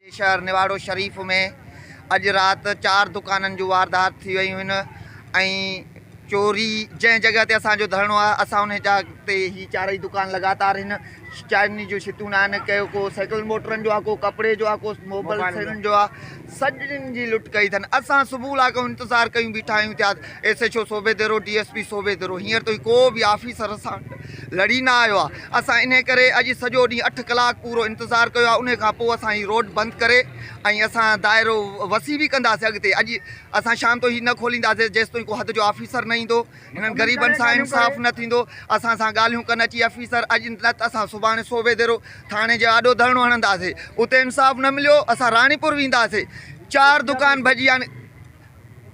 جي شهر نواڙو شريف ۾ اڄ رات چار دڪانن جون واردات ٿي ويون آهن ۽ چوري جنهن جڳهه تي اسان جو ڌرڻو آهي اسان ان جا تي هي چارئي دڪان لڳاتار هن چارني جو شتون آهن ڪيو ڪو سائيڪل موٽرن جو آهي ڪو ڪپڙي جو آهي ڪو موبائل سيلن جو آهي سڄن جي لٽ ڪئي اٿن اسان صبح لا ڪيو انتظار ڪيون بيٺا آهيون ٿيا S H O Sobho Dero D S P Sobho Dero هينئر تائين ڪو به آفيسر اسان لڙي نه آيو آهي اسان انهي ڪري اڄ سڄو ڏينهن اٺ ڪلاڪ پورو انتظار ڪيو آهي انهي کان پوء اسان هي روڊ بند ڪري ۽ اسان دائرو وسيع به ڪنداسين اڳتي اڄ اسان شام تائين هي نه کولينداسين جيستائين ڪو حد جو آفيسر نه ايندو هنن غريبن سان انصاف نه ٿيندو اسان سان ڳالهيون ڪن اچي آفيسر اڄ نه ته اسان سڀاڻي صوبي ديرو ٿاڻي جي آڏو ڌرڻو هڻنداسين اتي انصاف نه مليو اسان راڻيپور وينداسين چار دڪان ڀڄي يعني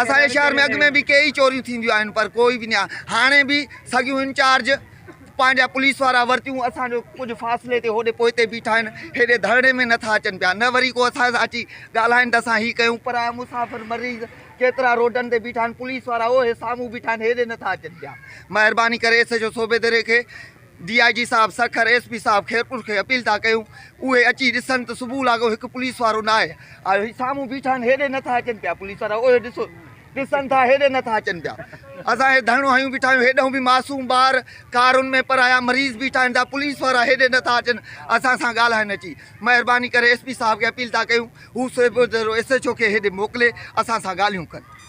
اسان جي شهر ۾ اڳ ۾ به ڪيئي چوريون ٿينديون آهن پر ڪوئي به نيان هاڻي به سڳيون انچارج پنهنجا پوليس وارا ورتيون اسان جو ڪجهه فاصلي تي هوڏي پوئتي بيٺا آهن هيڏي ڌرڻي ۾ نٿا اچن پيا نه وري ڪو اسان سان اچي ڳالهائن ته اسان هي ڪيون پرايا مسافر مريض ڪيترا روڊن تي بيٺا آهن پوليس وارا اهي سامهون بيٺا آهن هيڏي نٿا اچن پيا مهرباني ڪري ايس ايڇ او صوبيدري کي ڊي آء جي صاحب سکر ايس پي صاحب خيرپور کي اپيل ٿا ڪيون اهي اچي ڏسن ته صبح لاڳو هڪ پوليس وارو ناهي آيو هي سامهون بيٺا آهن هيڏي نٿا اچن پيا پوليس وارا اهي ڏسو ڏسن ٿا هيڏي نٿا اچن پيا اسان هي ڌرڻو هنيون بيٺا آهيون هيڏهون به معصوم ٻار ڪارن ۾ پرايا مريض بيٺا آهن ته پوليس وارا هيڏي نٿا اچن اسان سان ڳالهائن اچي مهرباني ڪري ايس پي صاحب کي اپيل ٿا ڪيون هو سيبوترو ايس ايڇ او کي هيڏي موڪلي اسان سان ڳالهيون ڪن.